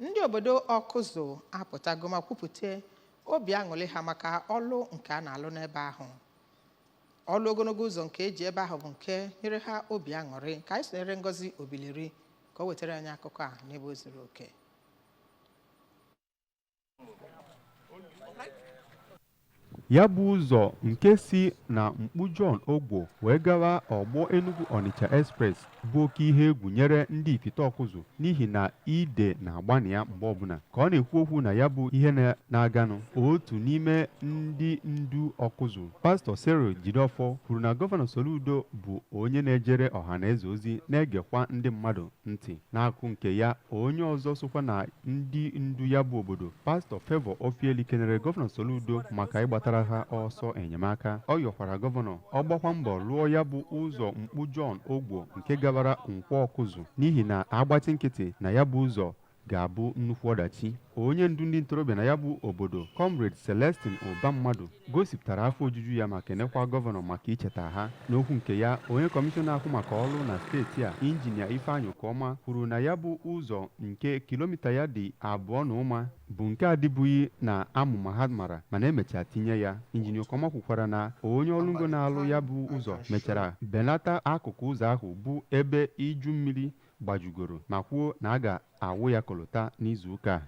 ndị obodo ọkụzụ apụtago ma kwupụta obi aṅụrị ha maka ọlụ nke a na-alụ n'ebe ahụ ọlụ ogologo ụzọ nke eji ebe ahụ bụ nke nyere ha obi aṅụrị ka anyị sonyere ngozi Obileri ka o wetara anyị akụkọ a n'ebe o zuru oke ya bụ ụzọ nke si na mkpu John Ogbo wee gawa ọgbọ Enugu Onitsha Express bụ oke ihe egwu nyere ndị ifite ọkụzụ n'ihi na ide na-agba na ya mgbe ọbụla ka ọ na-ekwu okwu na ya bụ ihe na-aganụ otu n'ime ndị ndu ọkụzụ pastọ Cyril Jideofor kwuru na gọvanọ Soludo bụ onye na-ejere ọha na eze ozi na-egekwa ndị mmadụ ntị n'akụkụ nke ya onye ọzọ sokwa na ndị ndu ya bụ obodo pastọ Favour Ofieli kenere gọvanọ Soludo maka ịgbatara ha ọsọ enyemaka ọ yọkwara gọvanọ ọ gbakwa mbọ lụọ ya bụ ụzọ mkpu John Ogbo nke gabara Nkwọ Ọkụzụ n'ihi na a gbachi nkịtị na ya bụ ụzọ ga-abụ nnukwu ọdachi onye ndu ndị ntorobịa na ya bụ obodo comrade Celestine Ụbammadụ gosipụtara afọ ojuju ya ma kenekwa gọvanọ maka icheta ha n'okwu nke ya onye kọmishọna na-ahụ maka ọlụ na steeti a injinia ifeanyị Okoma kwuru na ya bụ ụzọ nke kilomita ya dị abụọ na ụma bụ nke adịbughị n'amụma ha mara mana e mechaa tinye ya injinia Okoma kwukwara na onye ọlụ ngo na-alụ ya bụ ụzọ mechara belata akụkụ ụzọ ahụ bụ ebe iju mmiri gbajugoro ma kwuo na a ga-awụ ya kolota n'izu ụka a